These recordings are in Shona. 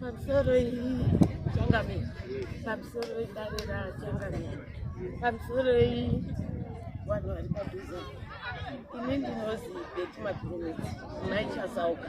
pamusoro changamire pamusoro idare rachangamire pamusoro vanhu vari padhuze ini ndinozi beti makurumidzi naichasauka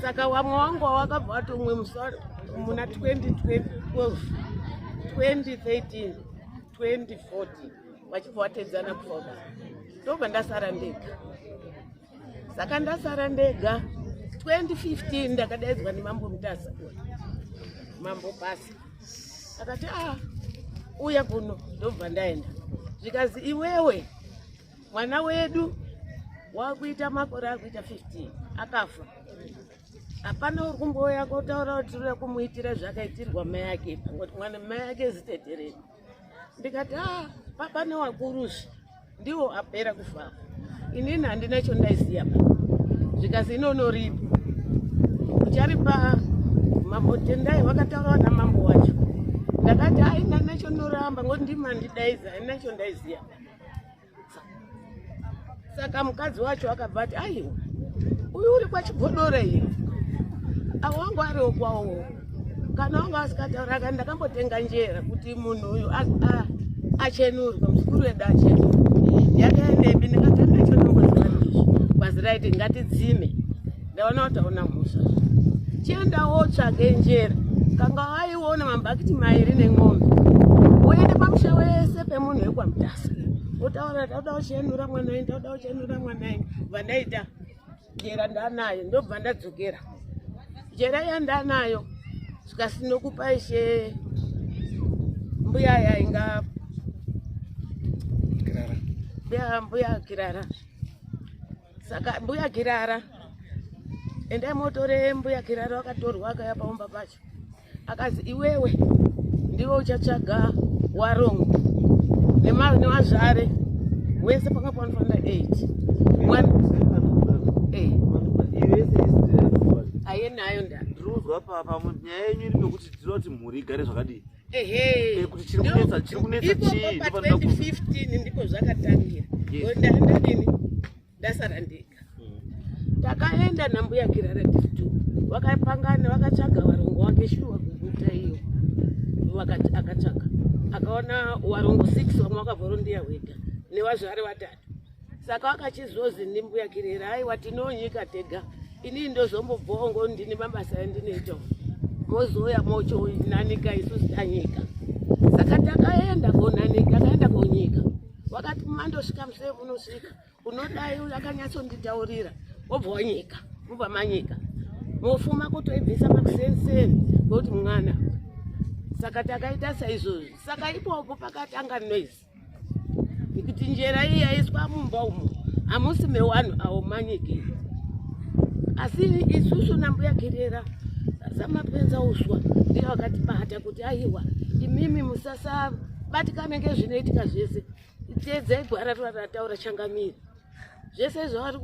saka wamwe wangu wawakabva watomwe musa muna 2012 2013 2014 vachibva vatedzana kufoka ndobva ndasara ndega saka ndasara ndega 2015 ndakadaidzwa nemambo mutasa mambo pasi akati a ah, uya kuno ndobva ndaenda zvikazi iwewe mwana wedu wakuita makore akuita 15 akafa hapana uri kumbouya kotaura kuti tiri kumuitira zvakaitirwa mai yake pangoti mwana mai yake ziteterei ndikati a ah, papa newakurusi ndiwo apera kufafa inini handina chondaiziva zvikazi inonoripa ucharipa mambo tendai vakataurawa namambo wacho ndakati aina nacho noramba ngoti ndimandidaiza aina chondaiziva saka mukadzi wacho akabva ati aiwa uyu uri kwachigodore iyo avo wangu ariwo kwawo kana wanga asikataura kani ndakambotenga njera kuti munhu uyu achenurwe muzukuru wedu achenurwe yakaendepi ndikatenda chonomboziva ndizvo kwaziraiti ngatidzime ndaona wataona mhosva chienda wotsvage njere kanga waiona mambakiti mairi nen'ombe woende pamusha wese pemunhu wekwamutasa wotaura ndauda uchienura mwana ini ndauda uchienura mwana ini bva ndaita jera ndanayo ndobva ndadzokera jera iya ndanayo zvikasinokupa ishe mbuya yainga mbuya kirara saka mbuya kirara endai motore mbuya kirara wakatorwa akaya paumba pacho akazi iwewe ndiwe uchatsvaga warongo nevazvare wese panga panofanira 8 ayenayo nda ndinonzwa papa nyaya yenyu iri nokuti tinoti mhuri igare zvakadii ehe kuti chiri kunetsa chiri kunetsa chii pa 2015 ndipo zvakatangira ndaenda nini ndasara ndega hmm. takaenda nambuya kirara titu vakapangana vakatsvaga varongo wake shuwa kuguta iyo vakati akatsvaga akaona warongo six vamwe vakavorondiya wega nevazvari vatatu saka wakachizozi ndimbuya kirera aiwa tinonyika tega inini ndozombobvawo ngo ndine mabasa andinoita mozouya mochonanika isusu tanyika saka takaenda konanika akaenda konyika wakati mandosvika musee unosvika unodai uyo akanyatsonditaurira wobva wanyika mubva manyika mofuma kutoibvisa makusenseni ngokuti mwana saka takaita saizvozvi saka ipopo pakatanga noise nekuti njera iyi yaiswa mumba umo hamusi mewanhu awo manyekei asi isusu nambuya kerera zamapenza uswa ndiyo vakatibata kuti aiwa imimi musasabatikane ngezvinoitika zvese teedzai gwara rataura changamiri zvese zvavari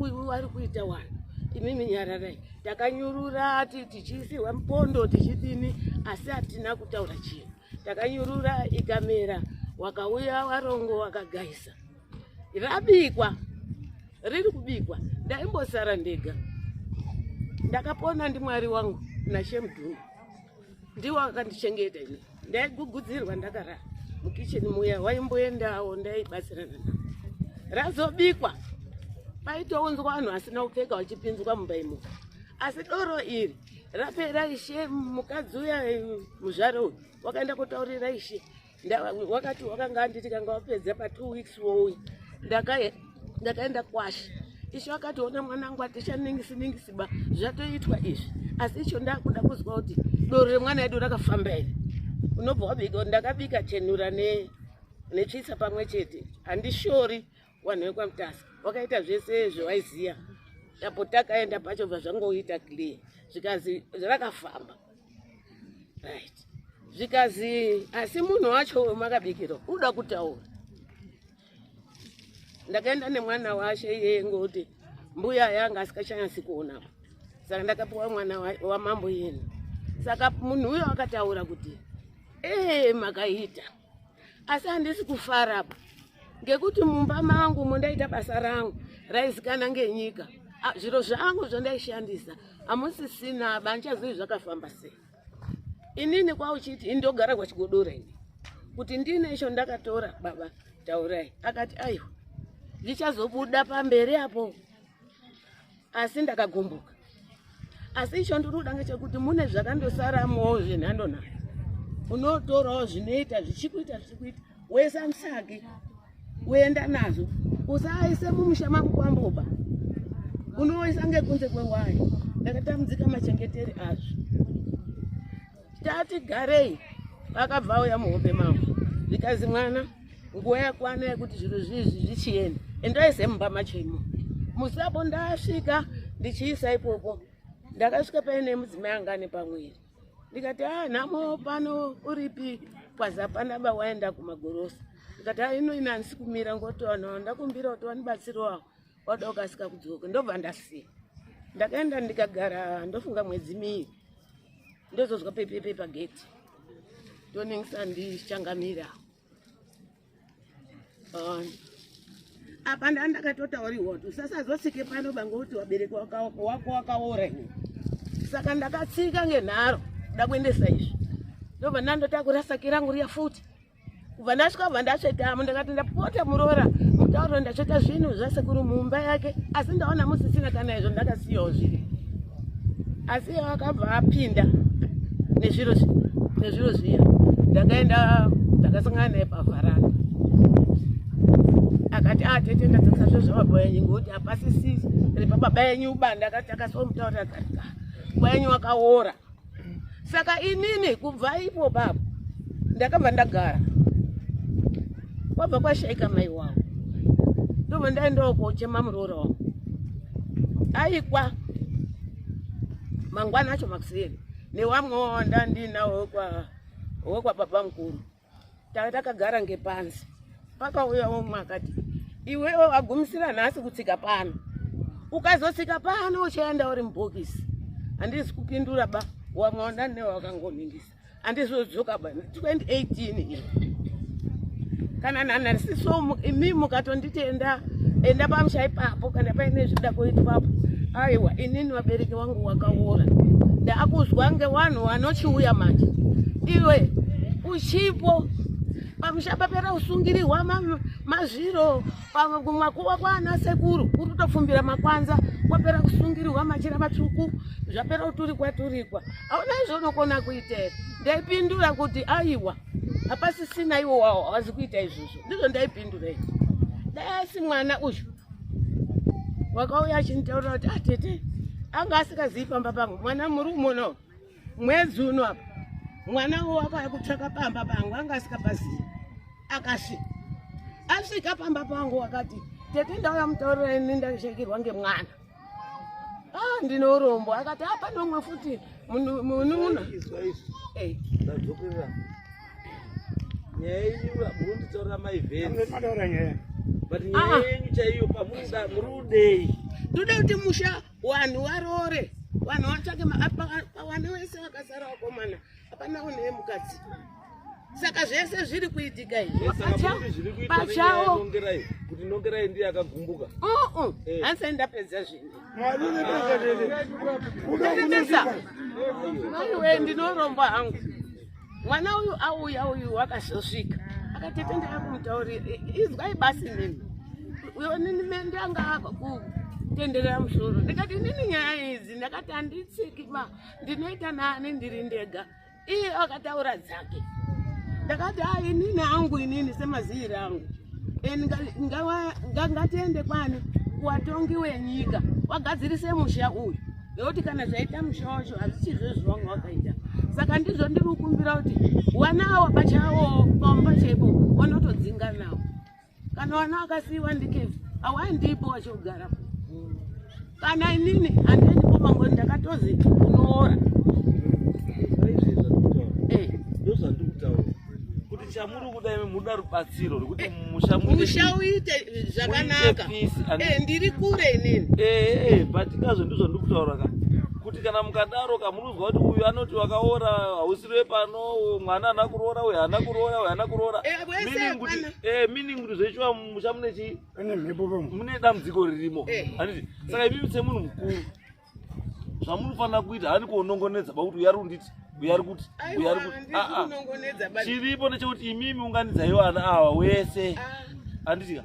kuita wani imimi nyararai takanyurura tichiisirwa mupondo tichidini asi hatina kutaura chinhu takanyurura ikamera wakauya warongo wakagaisa rabikwa riri kubikwa ndaimbosara ndega ndakapona ndimwari wangu nashemdhunu ndiwo akandichengeta ini ndaigugudzirwa ndakarara mukicheni muya waimboendawo ndaibatsirana na razobikwa paitounzwa vanhu asina kupfeka vachipinzwa mumba imomo asi doro iri rapera ishe mukadzi uya muzvare uyu wakaenda kotaurira ishe wakati wakanga anditi kanga wapedza pa two weeks wouya ndakaenda kwashe ishe wakati ona mwanangu atichaningisi ningisi ba zvatoitwa izvi asi icho ndakuda kuzwa kuti doro remwana yedu rakafamba here unobva wabika ndakabika chenura netsvitsa pamwe chete handishori Wanhu wekwaMutasa wakaita zvese zvewaiziya apo takaenda pacho bva zvangoita clear zvikazi zvakafamba right zvikazi asi munhu wacho makabikirwa unoda kutaura ndakaenda nemwana washe iyeye ngoti mbuya yanga asikachanyasi kuonapa saka ndakapiwa mwana wamambo yenu saka munhu uyo akataura kuti ee makaita hey, asi handisi kufara apa ngekuti mumba mangu mundaita basa rangu raizikana ngenyika zviro zvangu zvandaishandisa hamusisina banchazivi zvakafamba sei inini kwauchiti indogara kwachigodora ini kuti ndine isho ndakatora baba taurai akati aiwa ndichazobuda pamberi apo asi ndakagumbuka asi icho ndinoda ngechekuti mune zvakandosaramowo zvenhando nayo unotorawo zvinoita zvichikuita zvichikuita wese amusage uenda nazvo usaise mumusha mako kwamboba unoisa ngekunze kwewayo ndakatambudzika machengeteri azvo tati garei vakabva vauya muhope mavo zvikanzi mwana nguva yakwana yekuti zvinhu zvizvi zvichienda endai semumba machemo musapo ndasvika ndichiisa ipopo ndakasvika paine mudzimai angane pamwiri ndikati a ah, nhamo pano uripi kwazapana vawaenda kumagorosa ndikati a ah, ino inansi kumira ngotoana ndakumbira kuti wanibatsiriwawo wada kukasika kudzoka ndobva ndasiya ndakaenda ndikagara ndofunga mwedzi miiri ndozonzwa pepepe pageti toningisa ndichangamira um, apa nda ndakatotauriwa kuti usasazosike pano bange kuti wabereki wako wakaora iwe saka ndakatsika ngenharo ndakuendesa izvi ndobva ndandotakura saki rangu riya futi kubva ndasvika kubva ndasvetamo ndakati ndapota muroora mutauro ndasveta zvinhu zvasekuru mumba yake asi ndaona musisina kana izvo ndakasiyawo zviri asi iye akabva apinda nezviro nezviro zviya ndakaenda ndakasangana naye pavharana akati atete ah, ndadzakisa zvo zvababa yenyu ngokuti hapasisisi repababa yenyu ubanda akati akasomutaurira akati ah, baba yenyu wakaora saka inini kubva ipo baba ndakabva ndagara kwabva kwashaika mai wangu ndobva ndaendawo kochema muroora wangu aikwa mangwana acho makuseri newamwewo wandandinawo wekwa wekwa baba mukuru takagara ngepanzi pakauya umwe akati iwewe wagumisira nhasi kutsika pano ukazotsika pano uchaenda uri mubhokisi handizi kupindura ba wamwaona ne wakangoningisa handizodzoka ba 2018 kana nanarisiso imi mukatonditenda enda pamusha ipapo kana paine zvida kuitwapo aiwa inini vabereki wangu wakaora ndakuzwa nge wanhu wanochiuya manje iwe uchipo pamusha papera usungirirwa mazviro makuwa kwaana sekuru uri kutopfumbira makwanza kwapera kusungirirwa machira matsvuku zvapera kuturikwa turikwa hauna izvo unokona kuita here ndaipindura kuti aiwa hapasisina iwo wawo hawazi kuita izvozvo ndizvo ndaipindura izvo dai asi mwana uyu wakauya achinitaurira kuti atete ah, anga asingazivi pamba pangu mwana muri umono mwedzi uno apa mwana wo wakauya kutsvaka pamba pangu anga asingapazivi akasvika asvika pamba pangu wakati tete ndauya mutaurira ini ndashekirwa ngemwana ah ndine urombo akati apa ah, nomwe futi munun'una eh. nyaya yenyu murunditaurira maivhenzitaura nyaya but ah, nyaya ah. yenyu chaiyo pamuda muri udei tode kuti musha vanhu varoore vanhu vatsvake maapa wese vakasara vakomana Hapana une mukadzi. Saka zvese zviri kuitika izvi. Pachawo. Kuti nongerai ndiye akagumbuka. Uh uh. Eh. Hansa ndapedza zvinhu. Mwari nepedza zvinhu. Unopedza. Mwari we ndinoromba hangu. Mwana uyu auya uyu wakazosvika. Akatete ndakumutaurira izwai basi nini. Uyo nini mende anga akutenderera musoro. Ndikati nini nyaya idzi ndakati handitsiki ba. ndinoita nani ndiri ndega iye akataura dzake ndakati a inini angu inini semaziiri angu ngatiende kwani kuwatongi wenyika wagadzirise musha uyu nekuti kana zvaita musha wacho hazvichizvo zvivanga wakaita saka ndizvo ndiri kukumbira kuti wanawo pachavo pamba chaipo wanotodzinganawo kana vana vakasiiwa ndikevi hawandipo vachogara kana inini handiendi komangoni ndakatozi unoora chamuri kuda imi muda rubatsiro rwekuti eh, musha musha uite zvakanaka eh, ndiri kure inini eh, but kazvo ndizvo ndiri kutaura ka kuti kana mukadaro ka munonzwa kuti uyu anoti wakaora hausiri wepano mwana haana kuroora uyu haana kuroora uyu haana kuroora Eh, meaning kuti zvechiwa musha mune chii pane mhepo pamwe mune dambudziko ririmo Eh. handiti saka imimi semunhu mukuru zvamunofanira kuita hani kuonongonedza pakuti uya ari kunditi uya ari kuti uya ari kuti Ah, ah. aiwanongonedza chiripo ndechekuti imimi unganidzai vana ava wese handitika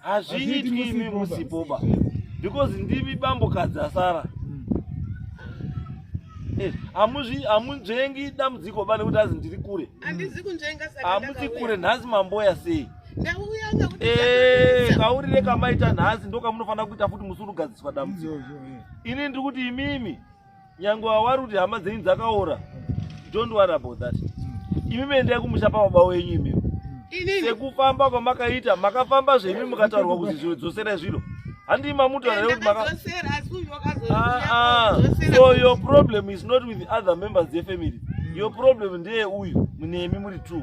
hazviitwi imi musipoba because ndimi bambo kadzi asara Eh, hamuzvi hamunzvengi dambudziko ba nekuti azi ndiri kure handizi kunzvenga saka hamusi ndakauya. kure nhasi mamboya sei ndauya ngakuti Eh, ndakauya. kauri rekamaita nhasi ndokamunofanira kuita futi musi unogadziswa dambudziko Izvozvo, eh. ini ndiri kuti imimi nyangwe wawari kuti hama dzenyu dzakaora don't worry about that imi mendai kumusha pababa wenyu imi sekufamba kwamakaita makafamba zvemi mukataurwa kuti zviro dzoserai zviro handii mamuti vanae kuti maka ah, ah. so your problem is not with other members yefamily your problem ndeye uyu munemi muri two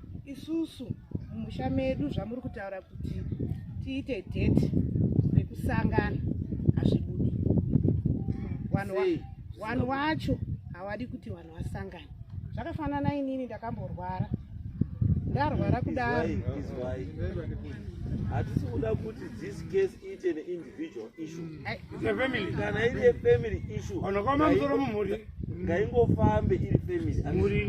isusu mumusha medu zvamuri kutaura kuti tiite date rekusangana hazvibudi vanhu wacho hawadi kuti vanhu vasangane zvakafanana inini ndakamborwara ndarwara kudaro hatisi kuda kuti this case iite neindividual issue kana iri yefamily issue ngaingofambe iri family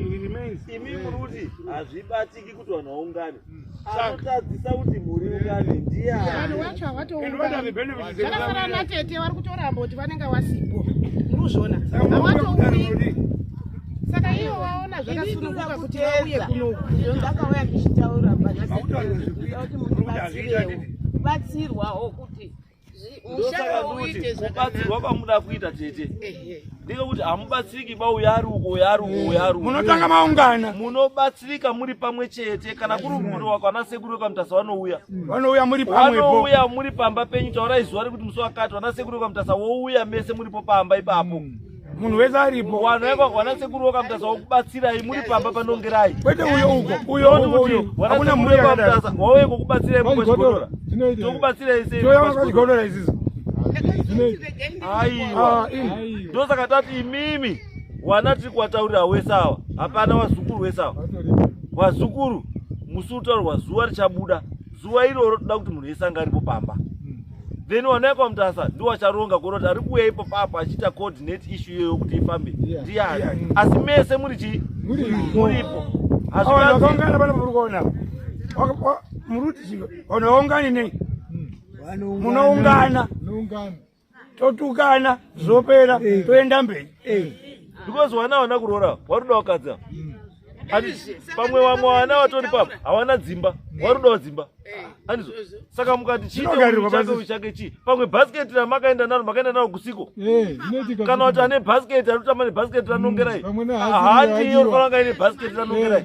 imi muri kuti hazvibatiki kuti vanhu vaungane mm. anotadzisa kuti muri ungane ndiyevanhu vacho havatounganeakafanana natete vari kutoramba kuti vanenge wasipo muri kuzviona havatouri saka ivo vaona zvakasununguka kuti vauye kunoku ndakauya ndichitaura kuti munhu batsirwewo batsirwawo kuti ndosaka ndoti kubatsirwa kwamuda kuita tete ndiko kuti hamubatsiriki ba uyo ari uko uyo ari uko uyo ari munotanga maungana munobatsirika muri pamwe chete kana kuri mhuri wako ana sekuru wekwamutasa vanouya vanouya muri pamwevanouya muri pamba penyu taurai zuva rekuti musi wakati vana sekuru wekwamutasa wouya mese muripo pamba ipapo mm. munhu wese aripo wanaekwa vana sekuru wakamutasa wakubatsirai muri pamba panongerai kwete uyo uko uyo uyo hakuna mhuri yakamutasa wauye kokubatsirai mukochigodora tokubatsirai sei toya wakachigodora isiso aiwa ndosaka tati imimi wana tiri kuwataurira wese awa hapana wazukuru wese awa wazukuru musi utaurwa zuva richabuda zuva iroro toda kuti munhu wese anga aripo pamba hmm. then wanaekwa mutasa ndiwo acharonga kuona kuti ari kuuya ipo papa achiita coordinate issue iyoyo kuti ifambe ndiyani hmm. asi mese muri chii muripo hazvakaungana pana muri kuona muruti chii unoungani nei hmm. munoungana totukana zvopera eh. toenda mberi eh. because wana hawana kuroora waruda wakadza hmm. pamwe vamwe wana vatori papa hawana dzimba hmm. warudawo dzimba eh. anizvo saka mukati chiiteuchake chii pamwe bhasiketi ramakaenda naro makaenda naro kusiko kana kuti ane bhasiketi anotamba nebhasiketi ranongerai hmm. handiyo rinofanira kunga ine bhasiketi ranongerai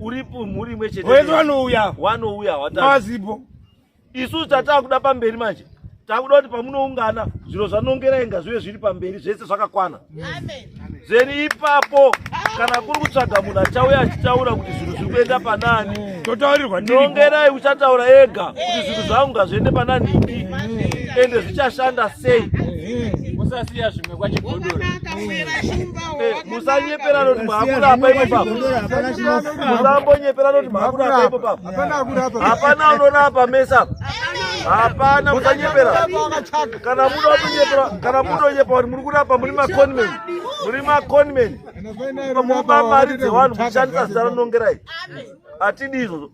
uri mhuri imwe chete wese wanouya wanouya watazipo isu tatakuda pamberi manje takuda kuti pamunoungana zviro zvanongera inga zvive zviri pamberi zvese zvakakwana zeni ipapo kana kuri kutsvaga munhu achauya achitaura kuti zvinhu zviri kuenda panani totaurirwa nongerai uchataura ega kuti zvinhu zvangu ngazviende panani idi ende zvichashanda sei usasiya zvimwe kwachigodora musanyeperana kuti maakura apa ipo papa musambonyeperana kuti maakura apa ipo papa hapana anorapa mese apa hapana musanyepera kana muda kutonyepera kana mutonyepa kuti muri kurapa muri maconmen muri maconmen muba mari dzevanhu muchishandisa zita ranongerai hatidi izvozvo